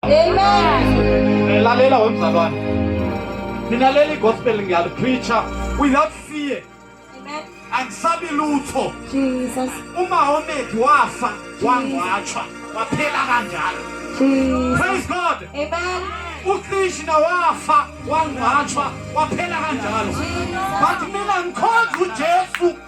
Amen. Lalela wemzalwane. Ninalela igospel ngiyalipreacher without fear. Amen. Angisabi lutho. Jesus. Uma omethi wafa wangwatshwa waphela kanjalo. Jesus. Praise God. Amen. ukrishna wafa wangcwatshwa waphela kanjalo but mina ngikhonza ujesu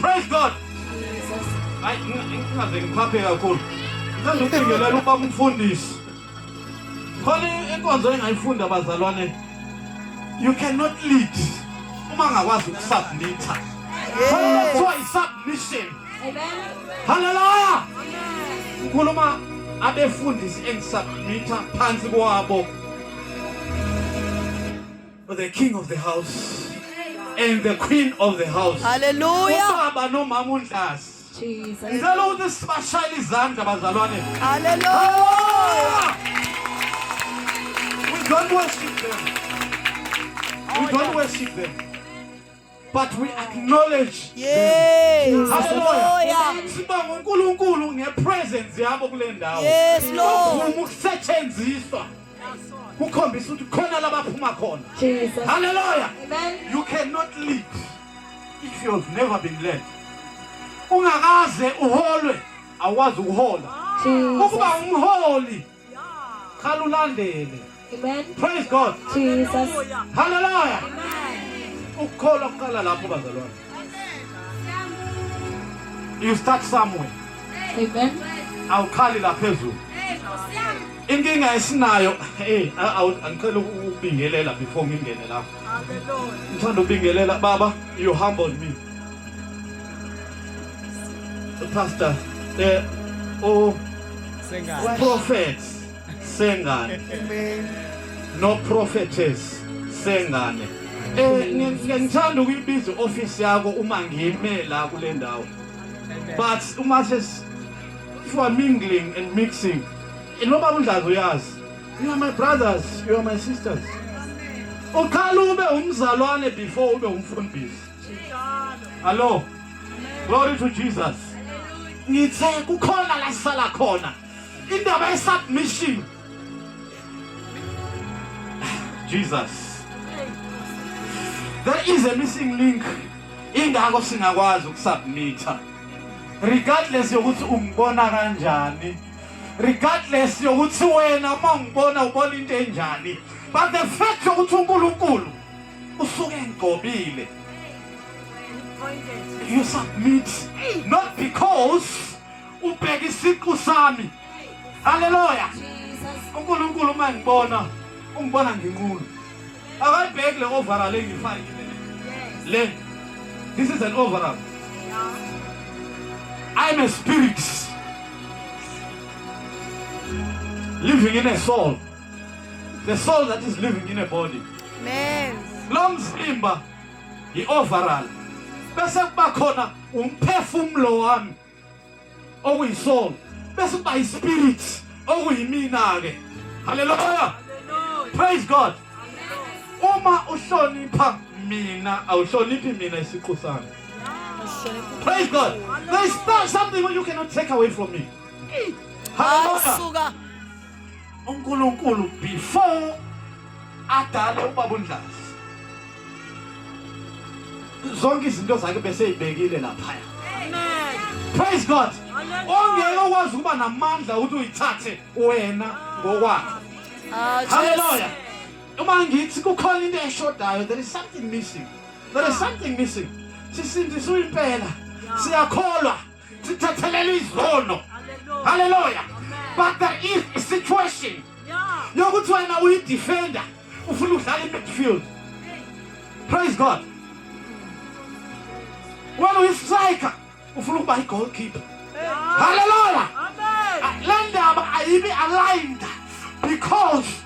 Praise God. Hayi ngingaze ngiphaphe kakhulu. Ngithanda ukubingelela uba umfundisi. Khona inkonzo engayifunda bazalwane. You cannot lead uma ngakwazi ukusubmitha. Khona kuthiwa isubmission. Hallelujah. Ngikhuluma abefundisi engisubmitha phansi kwabo. the king of the house and the queen of the house haleluya ubaba nomama unhlasi ngicela ukuthi sibashayele izandla bazalwane haleluya we don't worship them we don't worship them but we acknowledge yes hallelujah sibonga uNkulunkulu ngepresence yabo kule ndawo yes lord ukusetshenziswa kukhombisa ukuthi khona labaphuma khona Jesus hallelujah amen you cannot lead if you have never been led ungakaze uholwe awazi ukuhola ukuba umholi Qala ulandele. Amen. Praise God. Jesus. Hallelujah. Ukukholwa kuqala lapho bazalwane. You start somewhere. Amen. Awukhali la phezulu. Inkinga esinayo hey angicela ukubingelela before ngingene lapho. Hallelujah. Ngithanda ukubingelela baba you humbled me. Pastor, eh o Sengane. prophet Sengane. Amen. No prophetess Sengane. Eh ngithanda ukuyibiza office yakho uma ngime la kule ndawo. But uma ses you are mingling and mixing. Noma undlazi uyazi. You are my brothers, you are my sisters. Uqala ube umzalwane before ube umfundisi. Hello. Glory to Jesus. Ngithe kukhona la sala khona. Indaba ye submission. Jesus. There is a missing link. Ingakho singakwazi ukusubmita. Regardless yokuthi ungibona kanjani. Regardless yokuthi wena uma ungibona ubona into enjani. But the fact yokuthi uNkulunkulu usuke engigobile you submit not because ubheka isiqu sami haleluya uNkulunkulu uma ngibona ungibona nginqunu akayibheki le overall engifakile le this is an overall i'm a spirit living in a soul The soul that is living in a body. Amen. Lo mzimba yi overall. Bese kuba khona umphefumulo wami okuyi soul. Bese kuba i spirit okuyimina ke. Hallelujah. Praise God. Uma uhlonipha mina awuhloniphi mina isiqu sami. Praise God. There is something you cannot take away from me. Hallelujah. uNkulunkulu before adale ubaba uNdlazi zonke izinto zakhe beseyibekile lapha praise god ongeke okwazi ukuba namandla ukuthi uyithathe wena ngokwakho ah, haleluya uma ngithi kukhona into eshodayo there is something missing there is something missing sisindiswe impela siyakholwa sithethelele izono haleluya but there is a situation yokuthi wena uyi-defender ufuna udlala i-midfield praise god wena uyi-striker ufuna ukuba i-goalkeeper haleluya le ndaba ayibi aligned because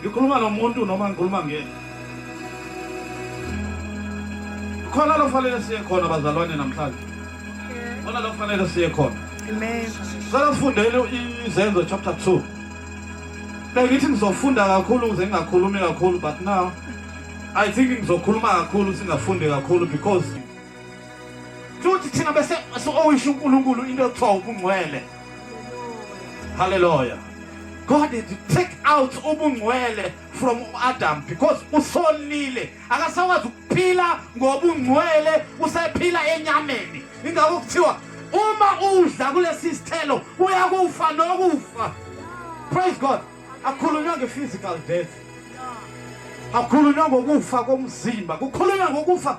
Ngikhuluma nomuntu noma ngikhuluma ngeni? Khona lo fanele siye khona bazalwane namhlanje. Khona lo fanele siye khona. Amen. Sala sifundele izenzo chapter 2. Bengithi ngizofunda kakhulu ukuze ngingakhulumi kakhulu but now I think ngizokhuluma kakhulu singafundi kakhulu because futhi thina bese owusho uNkulunkulu into ekuthiwa ubungcwele haleluya God had to take out ubungcwele from Adam because usolile akasakwazi ukuphila ngobungcwele usephila enyameni ingakho kuthiwa uma udla kulesi sithelo uyakufa nokufa praise God akukhulunywa nge-physical death akukhulunywa ngokufa komzimba kukhulunywa ngokufa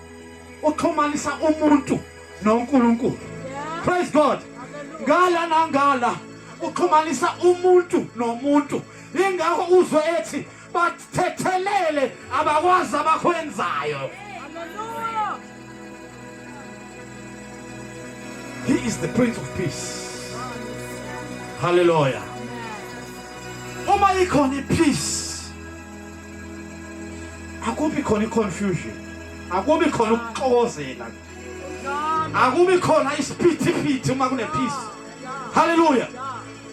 uxhumanisa umuntu noNkulunkulu praise god ngala nangala uxhumanisa umuntu nomuntu ingakho uzwe ethi bathethelele abakwazi abakwenzayo He is the Prince of Peace. Hallelujah. Uma ikhona ipeace akubi khona i-confusion akubi khona ukuxokozela akubi khona isiphithiphithi uma kunephisi haleluya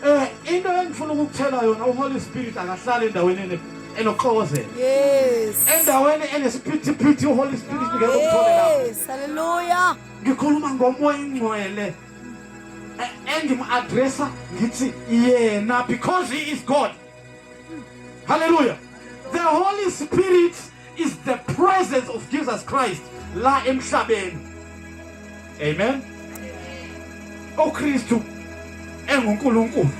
um into engifuna ukukuthela yona uholy spirit akahlali endaweni enoxokozela endaweni enesiphithiphithi uholy spirit ngeke umthole lapho haleluya ngikhuluma ngomoya ingcwele engimu-adressa ngithi yena because he is god Hallelujah. The Holy Spirit is the presence of Jesus Christ la emhlabeni. Amen. UKristu enguNkulunkulu.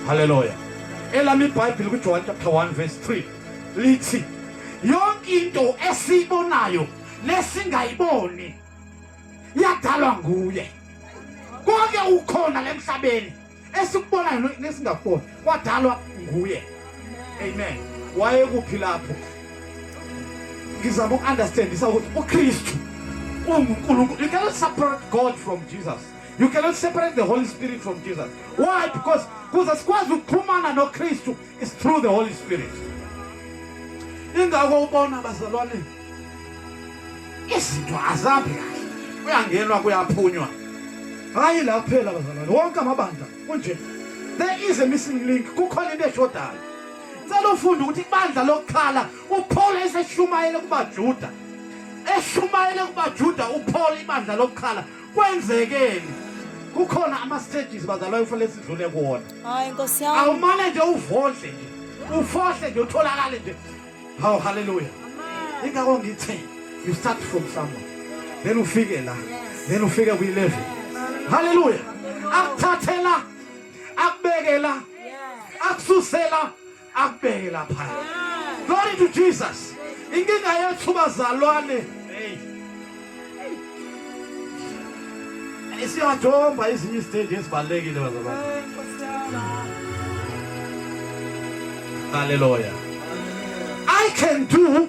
Hallelujah. Elami iBhayibheli kuJohn chapter 1 verse 3 lithi yonke into esiyibonayo lesingayiboni yadalwa nguye. Konke ukhona lemhlabeni esikubonayo no- nesingakuboni kwadalwa nguye amen wayekuphi lapho ngizama uku-understandisa ukuthi ukristu ungunkulunkulu you cannot separate god from jesus you cannot separate the holy spirit from jesus why because kuze sikwazi ukuxhumana nokristu It's through the Holy Spirit. Ingakho ubona bazalwane izinto azabi kahle. Kuyangenwa kuyaphunywa. Hayi la kuphela bazalwane wonke amabandla kunje. There is a missing link kukhona into eshodayo. Ngicela ufunde ukuthi ibandla lokukhala uPaul eseshumayele kubaJuda. Eshumayele kubaJuda uPaul ibandla lokukhala kwenzekeni? Kukhona ama stages bazalwane ufanele sidlule kuwona. Hayi Nkosi yami. Awumane nje uvodle nje. Ufohle nje utholakale nje. Haw hallelujah. Amen. Ingakho ngithe you start from somewhere. Then ufike la. Then ufike ku 11. Hallelujah. Akuthathela akubekela akususela akubeke lapha glory to jesus inkinga yethu bazalwane isiyathomba ezinye izitendi ezibalulekile bazalwane haleluya i can do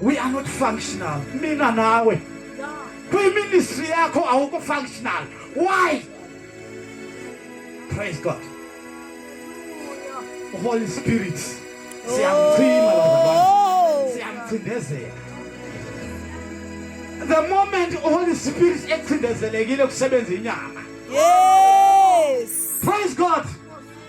we are not functional mina nawe kwiministry yakho awukho functional why praise god holy spirit siyamchima oh. siyamchindezela the moment holy spirit ekucindezelekile kusebenza inyama yes praise god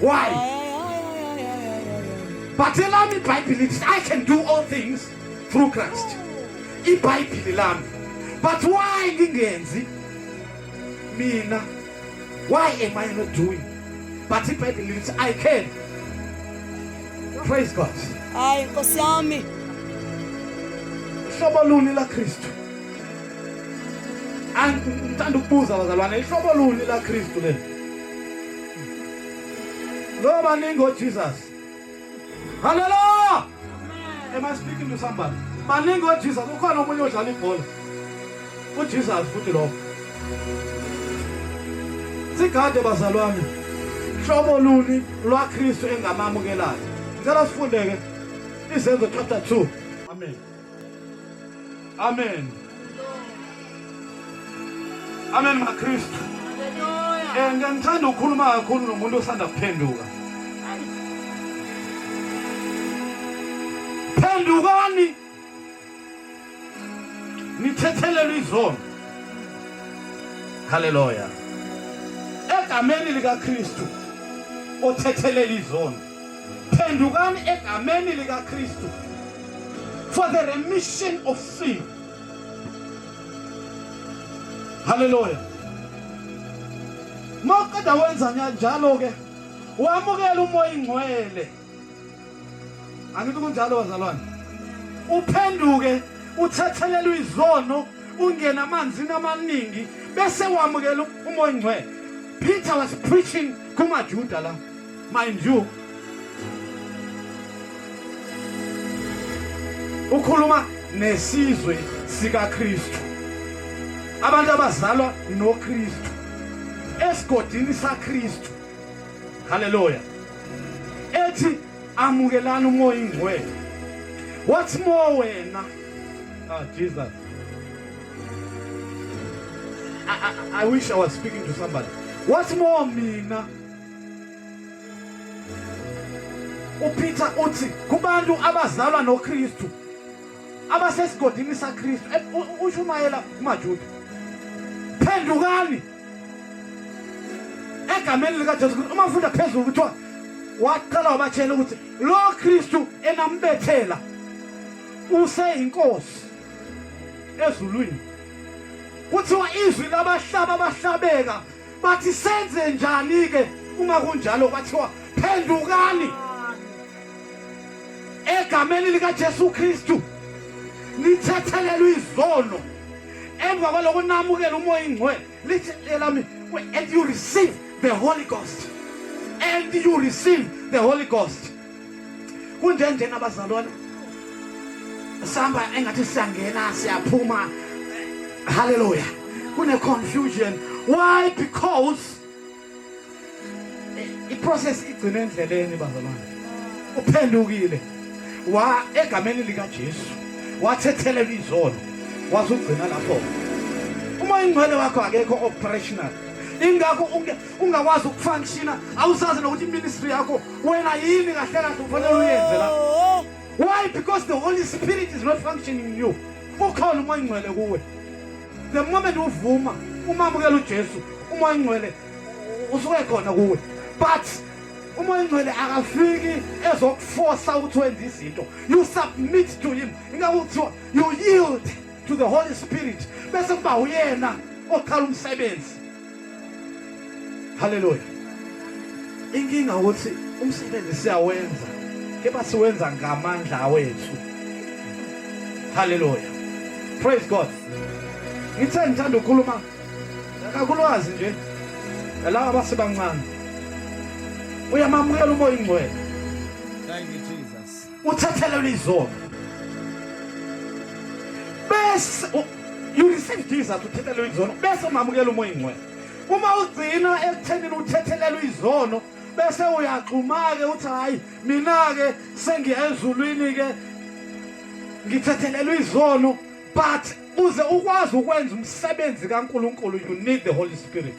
why but elami ibhayibhile lithi i can do all things through christ ibhayibhile lami but why ngingenzi mina why am i not doing but ibhayibhile lithi i can praise god hayi nkosi yami hlobo luni la kristu angithanda ukubuza bazalwane ihlobo luni la kristu lelo Lo baningi oJesus. Hallelujah. Am I speaking to somebody? Baningi oJesus ukhona omunye odlala ibhola. UJesus futhi lo. Sigade bazalwane. Hlobo luni lwaKristu engamamukelayo? Ngicela sifundeke izenzo chapter 2. Amen. Amen. Amen maKristu. Eh ngithanda ukukhuluma kakhulu nomuntu osanda kuphenduka. Phendukani. Nithethelelwe izono. Hallelujah. Egameni likaKristu othethelela izono. phendukani egameni likaKristu for the remission of sin haleluya maqeda wenza njalo ke wamukela umoya ingcwele angithi kunjalo bazalwane uphenduke uthethelelwe izono ungena amanzini amaningi bese wamukela umoya ingcwele Peter was preaching kumaJuda la Mind you. Ukhuluma nesizwe sikaKristu. Abantu abazalwa noKristu esigodini saKristu. Hallelujah. Ethi amukelani umoya ingcwele. What's more wena? Ah Jesus. I, I, I wish I was speaking to somebody. What's more mina? uPeter uthi kubantu abazalwa noKristu abasesigodini saKristu eh, ushumayela kumaJuda phendukani egameni likaJesu Kristu uma ufunda phezulu kuthiwa waqala wabatshela ukuthi lo Kristu enambethela useyinkosi ezulwini kuthiwa izwi labahlaba abahlabeka Bathi senze njani-ke uma kunjalo kwathiwa phendukani egameni likaJesu Kristu nithethelelwe izono emva kwaloko namukela umoya ingcwele lithi elami and you receive the holy ghost and you receive the holy ghost kunjenjena abazalwana sihamba engathi siyangena siyaphuma haleluya kune-confusion why because eh, iprocess igcine endleleni bazalwane uphendukile wa egameni likajesu wathethelelwa izolo wazugcina lapho uma ingcwele wakho akekho operational ingakho ungakwazi ukufunctiona awusazi nokuthi iministry yakho wena yini kahle kahle ufanele uyenze la oh. why because the holy spirit is not functioning you ukhona umoya ingcwele kuwe the moment uvuma umamukela ujesu umoya ingcwele usuke khona kuwe but umoya ingcwele akafiki ezokufosa ukuthi wenze izinto you submit to him ingakuthiwa you yield to the holy spirit bese kuba uyena okhala umsebenzi haleluya inkinga ukuthi umsebenzi siyawenza kepha siwenza ngamandla awethu haleluya praise god ngithe ngithanda ukukhuluma kakulwazi nje laba abasebancane uyamamukela umoya ingcwele uthathelelwa izono bese you receive Jesus uthethelelwa izono bese umamukela umoya ingcwele uma ugcina ekuthenini uthethelelwa izono bese uyaxhuma-ke uthi hhayi mina-ke sengiya ezulwini-ke ngithethelelwa izono but uze ukwazi ukwenza umsebenzi kaNkuluNkulu you need the holy spirit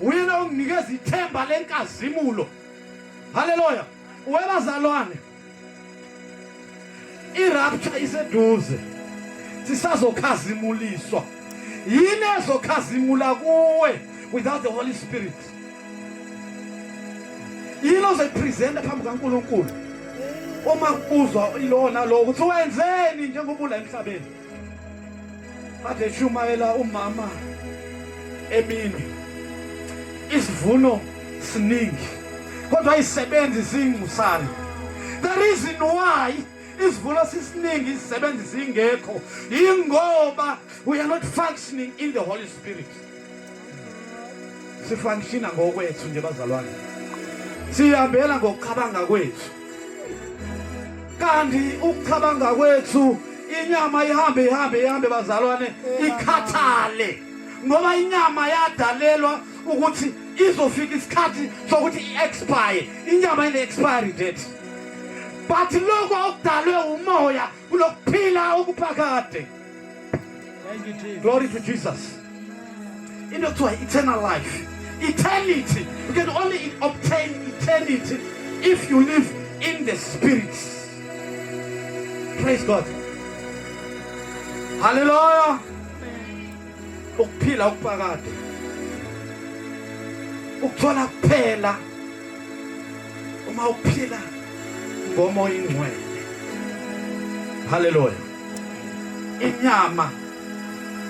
Uyena onginikeza ithemba lenkazimulo. Haleluya. Webazalwane. Irapture iseduze. Sisazokhazimuliswa. Yini ezokhazimula kuwe without the Holy Spirit? Yini ozoyipresenta phambi kaNkulunkulu? Uma kubuzwa ilona lo ukuthi wenzeni njengoba ula emhlabeni? Ade shumayela umama emini. Isivuno siningi. Kodwa isebenzi zingusana. The reason why isivuno sisiningi izisebenzi zingekho ingoba we are not functioning in the holy spirit sifunctiona ngokwethu nje bazalwane sihambela ngokucabanga kwethu kanti ukucabanga kwethu inyama ihambe ihambe ihambe bazalwane ikhathale ngoba inyama yadalelwa ukuthi izofika isikhathi sokuthi i-expire inyama ine-expiry date but lokho okudalwe umoya kulokuphila okuphakade Glory to Jesus. Into kuthiwa eternal life. Eternity. You can only obtain eternity if you live in the spirit. Praise God. Hallelujah. Ukuphila okuphakade. Ukuthola kuphela uma uphila ngomoya ingcwele. Hallelujah. inyama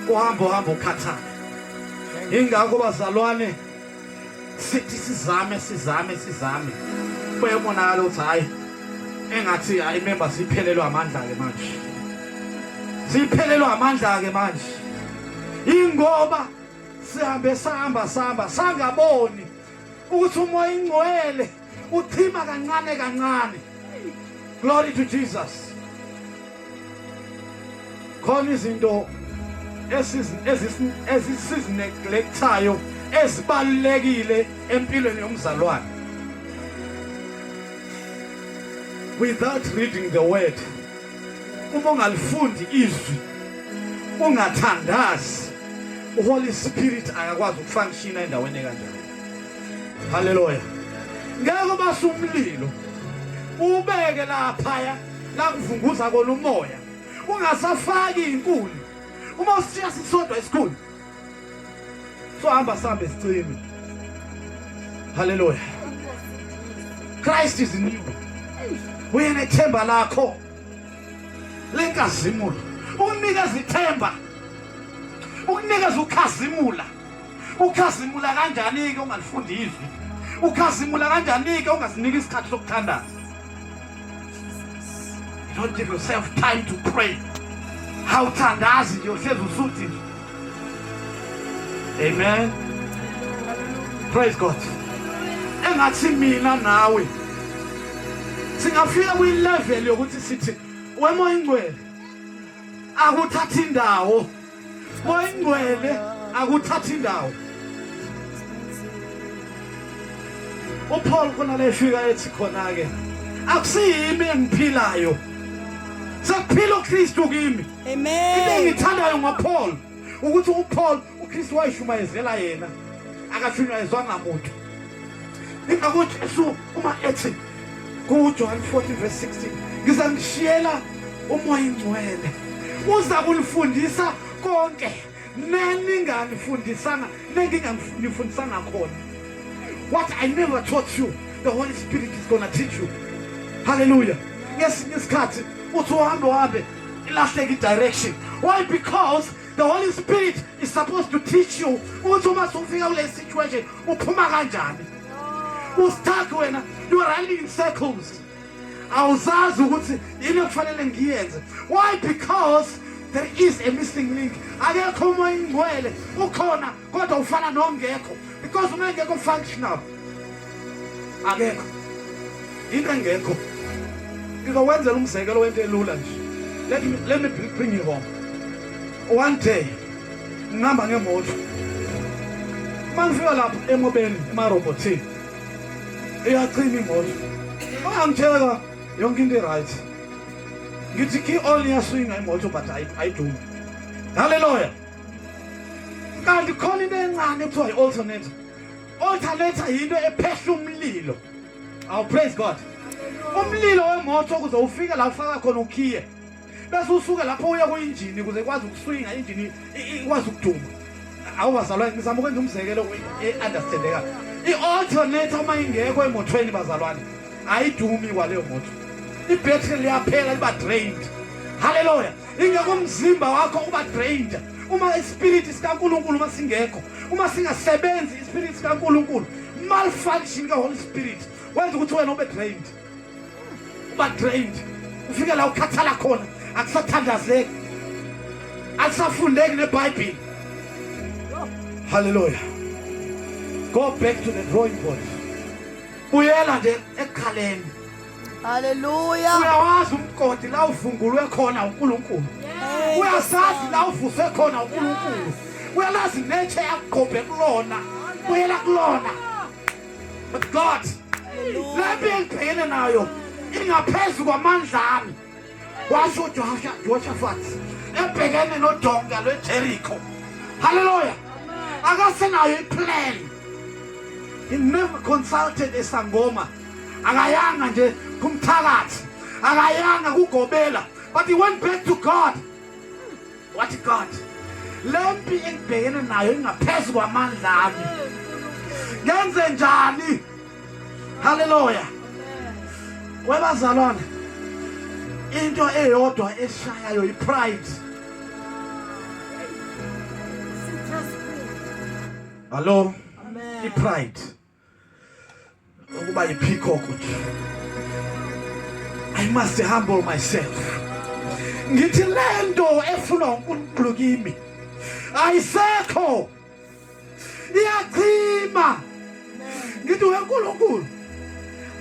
kuhamba uhamba ukhathana ingakho bazalwane sithi sizame sizame sizame kuyabonakala ukuthi hhayi engathi hhayi memba siphelelwe amandla-ke manje siphelelwe amandla-ke manje ingoba sihambe sihamba sihamba sangaboni ukuthi umoya ingcwele Uchima kancane kancane. Glory to Jesus. Khona izinto ezisizineglectayo ezibalulekile empilweni yomzalwane. Without reading the word uma ungalifundi izwi ungathandazi uHoly Spirit akakwazi ukufunctiona endaweni kanjalo Haleluya. Ngeke base umlilo ubeke laphaya la kuvunguza kona umoya ungasafaki inkuni uma usishiya sisodwa isikhulu sohamba sambe sicime haleluya christ is in you uyena ithemba lakho lenkazimulo ukunikeza ithemba ukunikeza ukhazimula Ukhazimula kanjani-ke ungalifundi izwi? Ukhazimula kanjani-ke ungasiniki isikhathi sokuthandaza? Don't give yourself time to pray. Hawuthandazi nje uhlezi usuthi nje. Amen. Praise God. Engathi mina nawe singafika kwi level yokuthi sithi wemoya ingcwele akuthatha indawo Moyingcwele akuthathi indawo. UPaul khona lefika ethi khona ke akusiyimi engiphilayo. Sekuphila uKristu kimi. Amen. Into engithandayo ngoPaul ukuthi uPaul uKristu wayishumayezela yena akashunyayezwanga muntu. Ingakho uJesu uma ethi kuJohn 14 verse 16 ngizangishiyela umoya ingcwele uza kunifundisa konke neninganifundisanga nenginganifundisanga khona what i never taught you the holy spirit is gonna teach you hallelujah ngesinye isikhathi uthi uhambe uhambe ilahleke i-direction why because the holy spirit is supposed to teach you ukuthi uma sufika kule situation uphuma kanjani usithathe wena you running in circles awuzazi ukuthi yini okufanele ngiyenze why because there is a missing link akekho umoya ingcwele ukhona kodwa ufana nongekho because uma engekho functional akekho into engekho ngizowenzela umzekelo wento elula nje let me, let me bring you home one day ngihamba ngemoto uma ngifika lapho emobeni emarobotini iyacima imoto angitheka yonke into i-right ngithi key all iyaswinga imoto but ayidumi haleluya kanti khona into encane kuthiwa yi-alternator alternator yinto ephehla umlilo awu praise god umlilo wemoto kuze ufike la ufaka khona ukhiye bese usuke lapho uya kuyinjini ukuze ikwazi ukuswinga injini ikwazi ukuduma awubazalwane ngizama ukwenza umzekelo e-understandeka i-alternator uma ingekho emotweni bazalwane ayidumi kwaleyo moto ibhetri liyaphela liba drained haleluya ingekho umzimba wakho uba drained uma ispiriti sikankulunkulu uma singekho uma singasebenzi ispiriti sikankulunkulu malfunction ka-holy spirit wenza ukuthi wena ube drained uba drained ufike la ukhathala khona akusathandazeki alisafundeki nebhayibhile haleluya go back to the drawing board buyela nje ekhaleni haleluya uyawazi umgodi la uvungulwe khona unkulunkulu uyasazi la uvuse khona unkulunkulu uyalazi netshe yakuqhobhe kulona buyela kulona But God, le mpi engibhekene nayo ingaphezu kwamandla ami washo uJoshafathi ebhekene nodonga lwejerikho halleluya akasenayo iplan he never consulted esangoma akayanga nje kumthakathi akayanga kugobela but he went back to god What God? Lempi engibhekene nayo ingaphezulu kwamandla ami. Ngenze njani? Hallelujah. Kwebazalwane into eyodwa eshayayo ipride. Hello. Amen. Ipride. ukuba yipeacock nje i must humble myself ngithi lento efunwa uNkulunkulu kimi ayisekho iyachima ngithi weNkulunkulu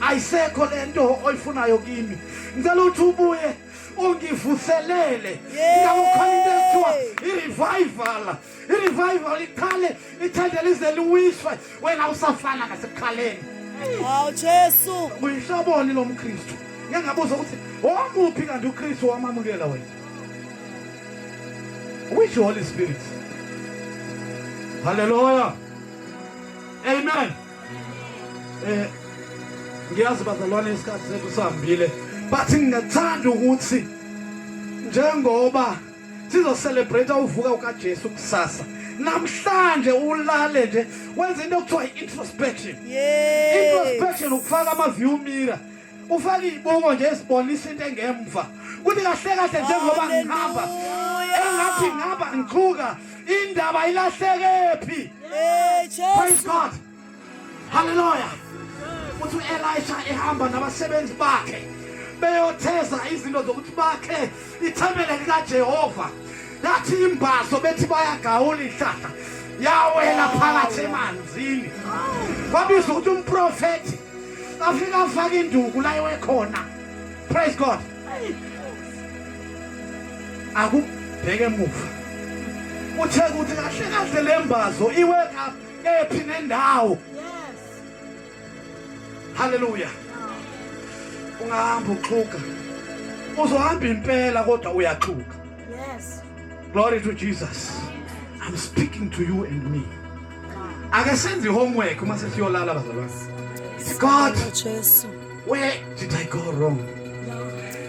ayisekho lento oyifunayo kimi ngicela ukuthi ubuye ungivuselele ngakho khona into ekuthiwa i-revival irevival iqale ithende lize liwiswe wena usafana ngasekukhaleni wow jesu uyinhloboni lo mkristu ngeke ngabuza ukuthi omuphi kanti ukristu wamamukela wena which holy spirit haleluya amen eh ngiyazi bazalwane isikhathi sethu sihambile but ngingathanda ukuthi njengoba sizocelebrate uvuka ukaJesu kusasa namhlanje ulale nje wenza into okuthiwa i-introspection introspection ukufaka ama-view mirror ufake iy'buko nje ezibonisa into engemva kuthi kahle kahle njengoba ngihamba engathi ngihamba ngithuka indaba ilahlekephi praise god Haleluya. Uthi uElisha ehamba nabasebenzi bakhe beyotheza izinto zokuthi bakhe ithempele likaJehova. Yathi imbazo bethi bayagawula ihlahla yawela phakathi emanzini. Kwabiza ukuthi umprofeti afika afaka induku la ekhona. Praise God. Akubheke emuva. Uthe ukuthi kahle kahle lembazo iwe Kephi nendawo. Yes. Hallelujah. Ungahamba uxhuka. Uzohamba impela kodwa uyaxhuka. Yes. Glory to Jesus. I'm speaking to you and me. Ake senze homework uma sesiyolala bazalwane. God, where did I go wrong?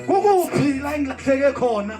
Kukuphi la engilahleke khona?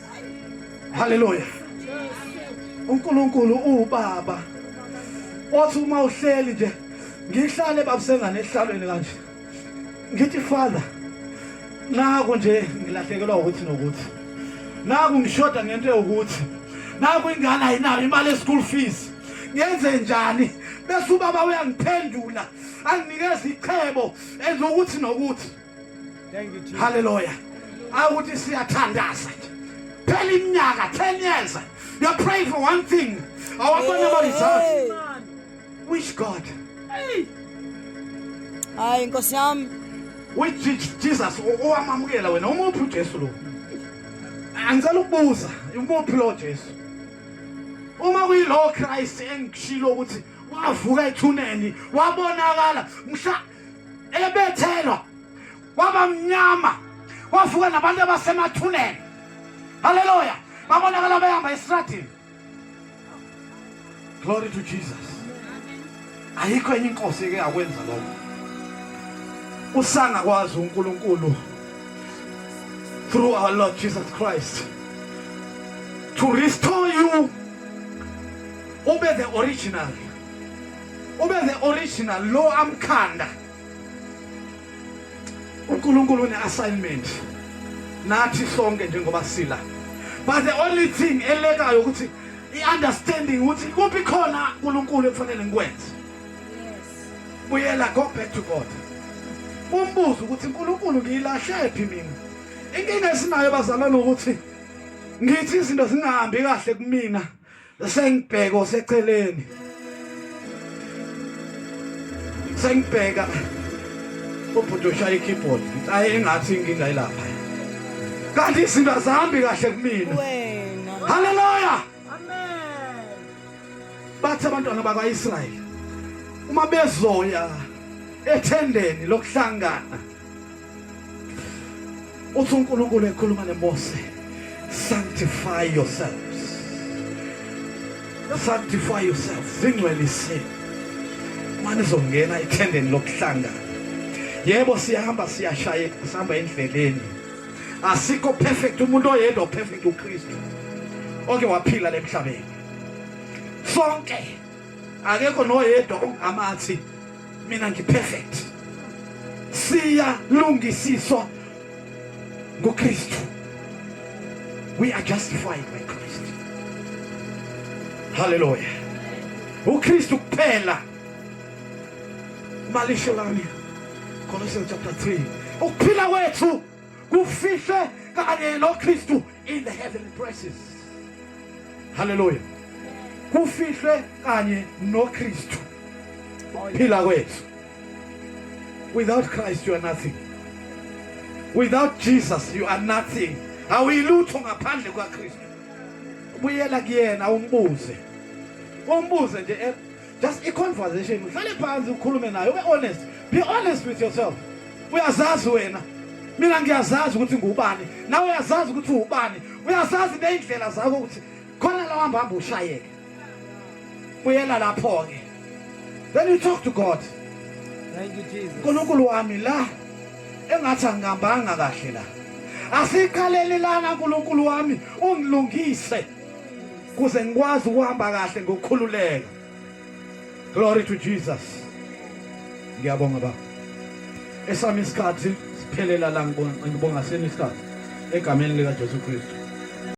Haleluya. uNkulunkulu uwubaba othi uma uhleli nje ngihlale babusengane ehlalweni kanje ngithi father naku nje ngilahlekelwa ukuthi nokuthi naku ngishoda ngento yokuthi naku ingane ayinayo imali ye-school fees ngenze njani bese ubaba uyangiphendula anginikeza ichebo enza ukuthi nokuthi haleluya awuthi siyathandaza nje phela iminyaka 10 years you pray for one thing awabona ama results which god hayi inkosi yami which jesus owamamukela wena umuphi ujesu lo angicela ukubuza umuphi lo jesu uma kuyilo christ engishilo ukuthi wavuka ethuneni wabonakala mhla ebethelwa waba mnyama wavuka nabantu abasemathuneni haleluya babonakala behamba esitradini glory to jesus ayikho enye inkosi eke yakwenza lokho usangakwazi unkulunkulu through our lord jesus christ to restore you ube the original ube the original lo amkhanda uNkulunkulu une assignment nathi sonke njengoba sila but the only thing elekayo ukuthi i-understanding ukuthi kuphi khona uNkulunkulu ekufanele ngikwenze buyela go back to God umbuzo ukuthi uNkulunkulu ngiyilahle phi mina inkinga esinayo bazalwane ukuthi ngithi izinto zingahambi kahle kumina sengibheka oseceleni sengibheka ubhuti oshaya i-keyboard ayi engathi inkinga ilapha kanti izinto azihambi kahle kumina haleluya bathi abantwana bakwa-israyeli uma bezoya ethendeni lokuhlangana uthi uNkulunkulu ekhuluma neMose sanctify yourselves sanctify yourselves zingcweliseni manje izongena ethendeni lokuhlangana yebo siyahamba siyashaya sihamba endleleni asikho perfect umuntu oyedwa perfect uKristu oke waphila lemhlabeni sonke akekho noyedwa ongamathi mina ngiperfect siyalungisiswa ngokristu we are justified by christ haleluya ukristu kuphela malisho lami colossians chapter 3 ukuphila kwethu kufihlwe kanye noKristu in the heavenly places haleluya kufihlwe kanye noKristu phila kwethu without Christ you are nothing without Jesus you are nothing awuyilutho ngaphandle kwaKristu buyela kuyena umbuze umbuze nje just a conversation uhlale phansi ukhulume naye ube honest be honest with yourself uyazazi wena mina ngiyazazi ukuthi ngubani nawe uyazazi ukuthi ubani uyazazi neindlela zakho ukuthi khona la uhamba hamba ushayeke buyela lapho ke then you talk to God thank you Jesus uNkulunkulu wami la engathi angihambanga kahle la asikhalelelana uNkulunkulu wami ungilungise kuze ngikwazi ukuhamba kahle ngokukhululeka glory to Jesus ngiyabonga baba esami isikhathi siphelela la ngibonga senu isikhathi egameni lika Jesu Kristu